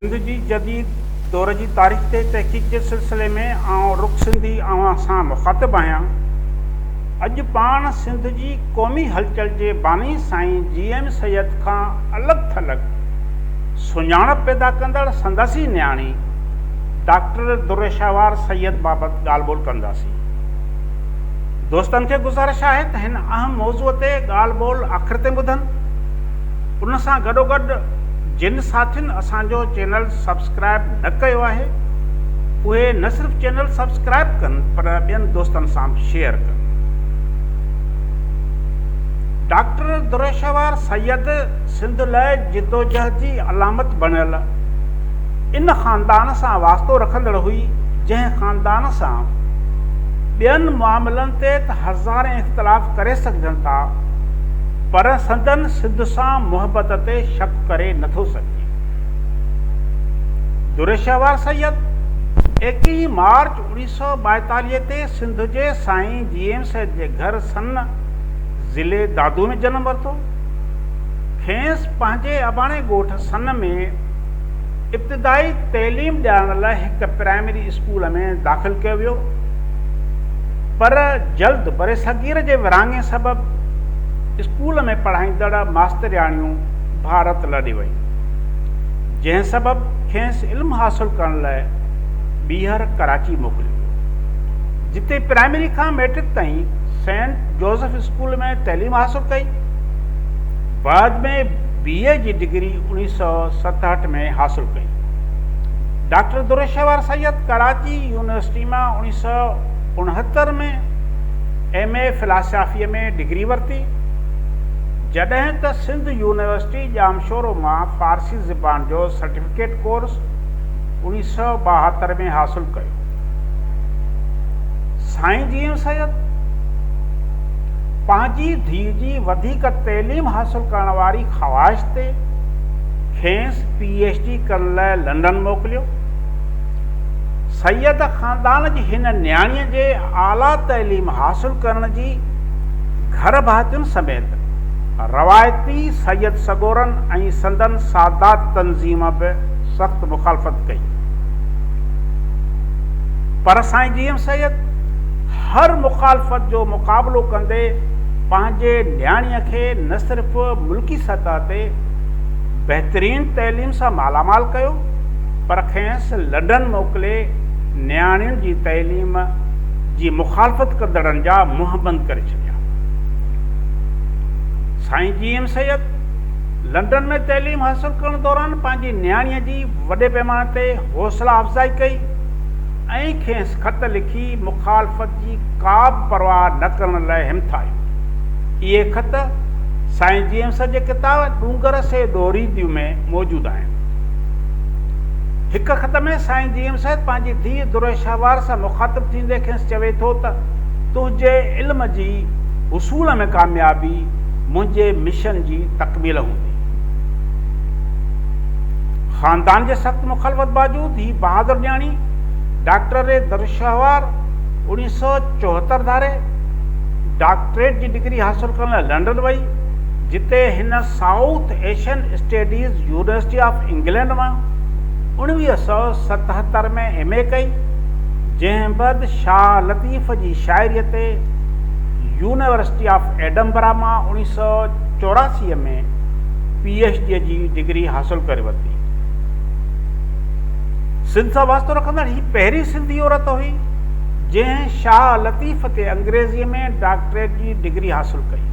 سنڌ جي جديد دور جي تاريخ تي تحقيق جي سلسلي ۾ آئون رخ سنڌي اوهان سان مخاطب آهيان. اڄ پاڻ سنڌ جي قومي هلچل جي باني سائين جي ايم سيد کان الڳ ٿلڳ، سڃاڻپ پيدا ڪندڙ سندس ئي نياڻي ڊاڪٽر درشهوار سيد بابت ڳالهه ٻولهه ڪنداسين. دوستن کي گذارش آهي ته هن اهم موضوع تي ڳالهه ٻولهه آخر تائين ٻڌن. ان سان گڏوگڏ جن ساٿين اسان جو چينل سبسڪرائب نه ڪيو آهي اهي نه صرف چينل سبسڪرائب ڪن پر ٻين دوستن سان به شيئر ڪن. ڊاڪٽر درشهوار سيد سنڌ لاء جدوجهد جي علامت بڻيل ان خاندان سان واسطو رکندڙ هئي، جنهن خاندان سان ٻين معاملن تي ته هزارين اختلاف ڪري سگهجن ٿا، پر سندن سنڌ سان محبت تي شڪ ڪري نه ٿو سگهجي. دريشهوار سيد، ايڪيهه مارچ اوڻيهه سؤ ٻائيتاليهه تي سنڌ جي سائين جي ايم سيد جي گهر سن ضلعي دادو ۾ جنم ورتو. کيس پنهنجي اباڻي ڳوٺ سن ۾ ابتدائي تعليم ڏيارڻ لاء هڪ پرائمري اسڪول ۾ داخل ڪيو ويو پر جلد برصغير جي ورهاڱي سبب اسڪول ۾ پڙهائيندڙ ماسترياڻيون ڀارت لڏي ويون جنهن سبب کيس علم حاصل ڪرڻ لاء ٻيهر ڪراچي موڪليو ويو جتي پرائمري کان مئٽرڪ تائين سينٽ جوزف اسڪول ۾ تعليم حاصل ڪئي. بعد ۾ بي اي جي ڊگري اوڻيهه سؤ ستهٺ ۾ حاصل ڪئي. ڊاڪٽر دورشهوار سيد ڪراچي يونيورسٽي مان اوڻيهه سؤ اڻهتر ۾ ايم اي فلاسافيء ۾ ڊگري ورتي، جڏهن ته سنڌ يونيورسٽي ڄامشورو مان فارسي زبان جو سرٽيفڪيٽ ڪورس اوڻيهه سؤ ٻاهتر ۾ حاصل ڪيو. سائين جي ايم سيد پنهنجي ڌيء جي وڌيڪ تعليم حاصل ڪرڻ واري خواهش تي کيس پي ايڇ ڊي ڪرڻ لاء لنڊن موڪليو سيد خاندان جي هن نياڻي جي اعليٰ تعليم حاصل ڪرڻ جي گهر ڀاتين سميت روايتي سيد سڳورن ۽ سندن سادات تنظيم به سخت مخالفت ڪئي پر سائين جي ايم سيد هر مخالفت جو مقابلو ڪندي پنهنجي نياڻيء کي نه صرف ملڪي سطح تي بهترين تعليم سان مالا مال ڪيو پر کينس لنڊن موڪلي نياڻين جي تعليم جي مخالفت ڪندڙن جا منهن بند ڪري ڇڏيا. سائين جي ايم سيد لنڊن ۾ تعليم حاصل ڪرڻ دوران پنهنجي نياڻيء جي وڏي پيماني تي حوصلا افزائي ڪئي ۽ کيس خط لکي مخالفت جي ڪابه پرواهه نه ڪرڻ لاء همٿايو. اهي خط سائين جيمس جي ڪتاب ڏونگر سي ڏوري ديون ۾ موجود آهن. هڪ خط ۾ سائين جيمس پنهنجي ڌيء دريشهوار سان مخاطب ٿيندي کيس چوي ٿو ته تنهنجي علم جي حصول ۾ ڪاميابي منهنجي مشن جي تڪميل هوندي. خاندان جي سخت مخالفت باوجود هي بهادر نياڻي ڊاڪٽر ري درشهوار اڻيهه سؤ چوهتر ڌاري ڊاڪٽريٽ جي ڊگري حاصل ڪرڻ لاء لنڊن وئي جتي هن South Asian studies university of England مان اڻويهه سؤ ستهتر ۾ ايم اي ڪئي جنهن بعد شاهه لطيف جي شاعري تي يونيورسٽي آف ايڊنبرا مان اڻيهه سؤ چوراسي ۾ پي ايڇ ڊي جي ڊگري حاصل ڪري ورتي. سنڌ سان واسطو رکندڙ هي پهرين سنڌي عورت هئي، جنهن شاهه لطيف تي انگريزيء ۾ ڊاڪٽريٽ جي ڊگري حاصل ڪئي.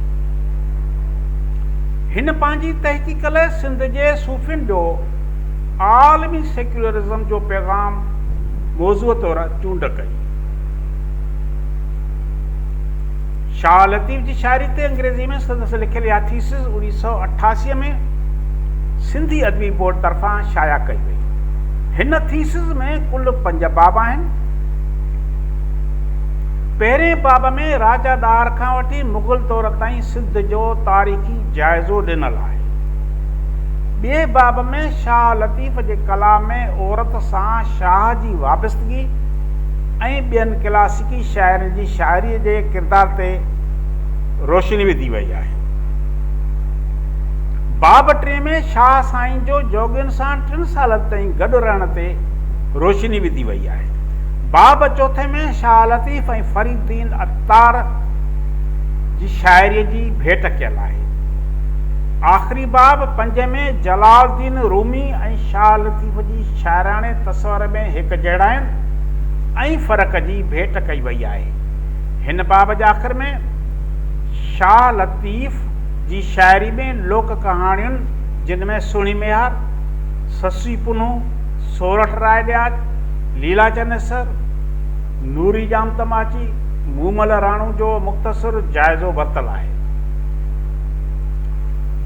هن پنهنجي تحقيق لئه سنڌ جي صوفين جو عالمي سيڪيولرزم جو پيغام موضوع طور چونڊ ڪئي. شاهه لطيف جي شاعري تي انگريزي ۾ سندس لکيل اها ٿيسز اڻويهه سؤ اٺاسي ۾ سنڌي ادبي بورڊ طرفان شايع ڪئي وئي. هن ٿيسز ۾ ڪل پنج باب آهن. پهرئين باب ۾ راجا ڏاهر کان وٺي مغل دور تائين سنڌ جو تاريخي جائزو ڏنل آهي. ٻئي باب ۾ شاهه لطيف جي ڪلام ۾ عورت سان شاهه جي وابستگي ۽ ٻين ڪلاسيڪل ڪي شاعرن جي شاعريء جي ڪردار تي روشني وڌي وئي آهي. باب ٽئين ۾ شاهه سائين جو جوڳين سان ٽن سالن تائين گڏ رهڻ تي روشني وڌي وئي آهي. باب چوٿين ۾ شاهه لطيف ۽ فريد الدين عطار جي شاعريء جي ڀيٽ ڪيل آهي. آخري باب پنجين ۾ جلال الدين رومي ۽ شاهه لطيف جي شاعراڻي تصور ۾ هڪجهڙائين، ۽ فرق جي ڀيٽ ڪئي وئي آهي. هن باب جي آخر ۾ شاهه لطيف جي شاعري ۾ لوڪ ڪهاڻيون جن ۾ سهڻي ميهار، سسئي پنهون، سورٺ راء ڏياچ، ليلا چنيسر، نوري ڄام تماچي، مومل راڻو جو مختصر جائزو ورتل آهي.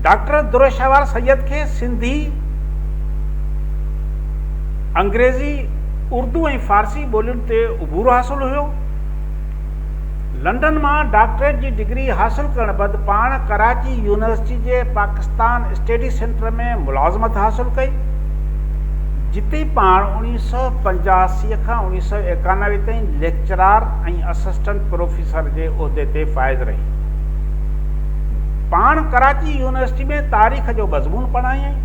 ڊاڪٽر عبدالرشوار سيد کي سنڌي. انگريزي، اردو ۽ فارسي ٻولين تي عبور حاصل هيو. لنڊن مان ڊاڪٽريٽ جي ڊگري حاصل ڪرڻ بعد پاڻ ڪراچي يونيورسٽي جي پاڪستان اسٽيڊي سينٽر ۾ ملازمت حاصل ڪئي، جتي پاڻ اڻويهه سؤ پنجاسي کان اڻويهه سؤ ايڪانوي تائين ليڪچرار ۽ اسسٽنٽ پروفيسر جي عهدي تي فائز رهي. پاڻ ڪراچي يونيورسٽي ۾ تاريخ جو مضمون پڙهايائين.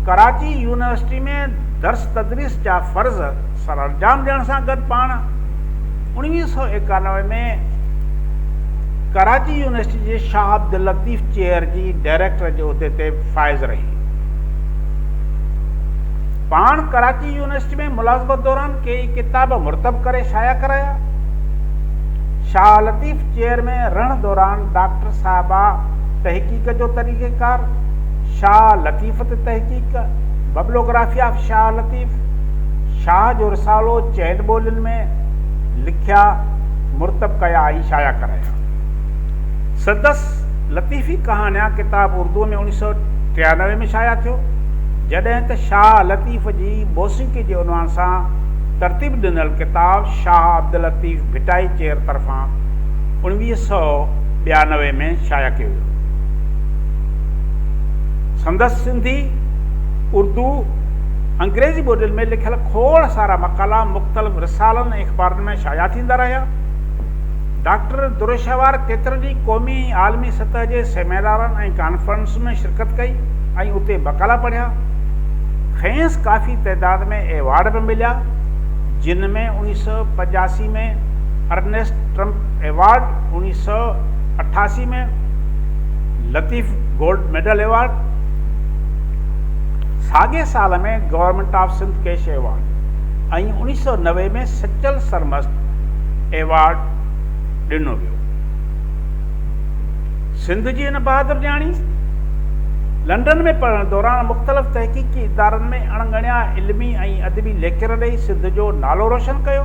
ڪراچي يونيورسٽي ۾ درس تدريس جا فرض سرانجام ڏيڻ سان گڏ پاڻ 1991 ۾ ڪراچي يونيورسٽي جي شاهه عبداللطيف چيئر جي ڊائريڪٽر جي عهدي تي فائز رهي پاڻ ڪراچي يونيورسٽي ۾ ملازمت دوران ڪيئي ڪتاب مرتب ڪري شايع ڪرايا شاهه لطيف چيئر ۾ رهڻ دوران ڊاڪٽر صاحبه تحقيق جو طريقيڪار شاهه لطيف تي تحقيق، Bibliography of Shah Latif، Shah جو رسالو چئن ٻولين ۾ لکيا، مرتب ڪيا ۽ شايع ڪرايا. سندس لطيفي ڪهاڻيان ڪتاب اردوء ۾ اوڻيھ سؤ ٽيانوي ۾ شايع ٿيو، جڏهن ته شاهه لطيف جي موسيقي جي عنوان سان ترتيب ڏنل ڪتاب شاهه عبداللطيف ڀٽائي چير طرفان اوڻويھ سؤ ٻيانوي ۾ شايع ڪيو ويو. سندس سنڌي، اردو، انگريزي ٻولين ۾ لکيل کوڙ سارا مقالا مختلف رسالن ۽ اخبارن ۾ شايع ٿيندا رهيا. ڊاڪٽر دروشاهوار ڪيترن ئي قومي ۽ عالمي سطح جي سيمينارن ۽ ڪانفرنسن ۾ شرڪت ڪئي ۽ اتي مقالا پڙهيا. کيس ڪافي تعداد ۾ ايوارڊ به مليا، جن ۾ اوڻيهه سؤ پنجاسي ۾ ارنيسٽ ٽرمپ ايوارڊ، اوڻيهه سؤ اٺاسي ۾ لطيف گولڊ ميڊل ايوارڊ، ساڳئي سال ۾ government of Sindh cash award ۽ اوڻيھ سؤ نوي ۾ سچل سرمست ايوارڊ ڏنو ويو. سنڌ جي هن بهادر نياڻي لنڊن ۾ پڙهڻ دوران مختلف تحقيقي ادارن ۾ اڻ ڳڻيا علمي ۽ ادبي ليڪچر ڏئي سنڌ جو نالو روشن ڪيو.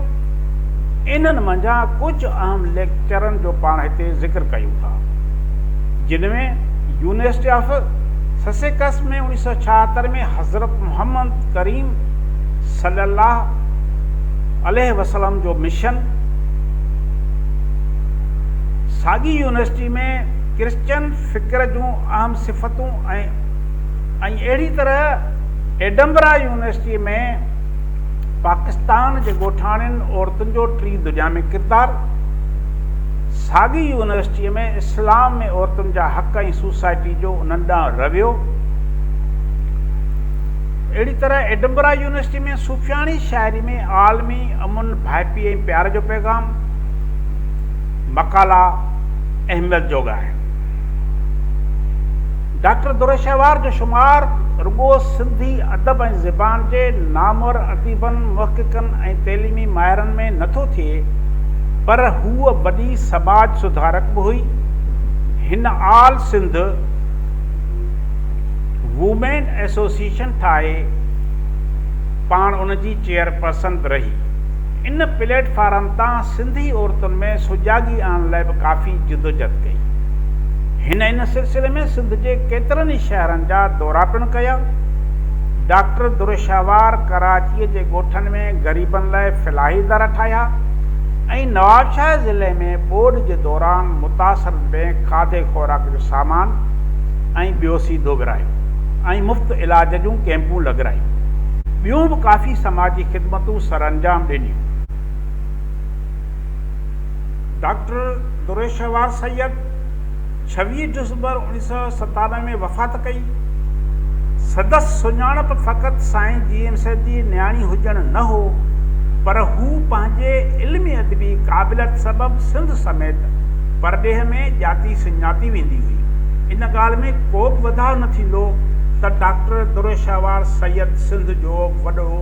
انهن منجهان ڪجهه اهم ليڪچرن جو پاڻ هتي ذڪر ڪيون ٿا. جن ۾ يونيورسٽي آف سسيڪس ۾ 1976 ۾ حضرت محمد ڪريم صلي الله عليه وسلم جو مشن، ساڳي يونيورسٽي ۾ ڪرسچن فڪر جون اهم صفتون ۽ اهڙي طرح ايڊنبرا يونيورسٽي ۾، پاڪستان جي ڳوٺاڻين عورتن جو ٽين دنيا ۾ ڪردار، ساڳي ئي يونيورسٽيء ۾ اسلام ۾ عورتن جا حق ۽ سوسائٽي جو انهن ڏانهن رويو، اهڙي طرح ايڊنبرا يونيورسٽيء ۾ صوفياڻي شاعريء ۾ عالمي امن، ڀائپي ۽ پيار جو پيغام، مقالا اهميت جوڳا آهن. ڊاڪٽر دورشهوار جو شمار رڳو سنڌي ادب ۽ زبان جي نامور اديبن، محققن ۽ تعليمي ماهرن ۾ نه ٿو ٿئي، پر هوء وڏي سماج سڌارڪ به هئي. هن آل سنڌ وومين ايسوسيئيشن ٺاهي پاڻ ان جي چيئرپرسن به رهي. ان پليٽ فارم تان سنڌي عورتن ۾ سجاڳي آڻڻ لاء به ڪافي جدوجھد ڪئي. هن ان سلسلي ۾ سنڌ جي ڪيترن ئي شهرن جا دورا پڻ ڪيا. ڊاڪٽر درشهوار ڪراچيء جي ڳوٺن ۾ غريبن لاء فلاحي در ٺاهيا ۽ نوابشاهه ضلعي ۾ ٻوڏ جي دوران متاثرن ۾ کاڌي خوراڪ جو سامان ۽ ٻيو سيڌو ورهايو ۽ مفت علاج جون ڪيمپون لڳرايون. ٻيون به ڪافي سماجي خدمتون سرانجام ڏنيون. ڊاڪٽر دريشوار سيد ڇويهه ڊسمبر اوڻيهه سؤ ستانوي ۾ وفات ڪئي. سندس سڃاڻپ فقط سائين جي ايم سيد جي نياڻي هجڻ نه هو، پر هو پنهنجي علمي ادبي قابليت سبب سنڌ سميت پرڏيهه ۾ ڄاتي سڃاتي ويندي هئي. ان ڳالهه ۾ ڪوبه وڌاء نه ٿيندو ته ڊاڪٽر دريشوار سيد سنڌ جو وڏو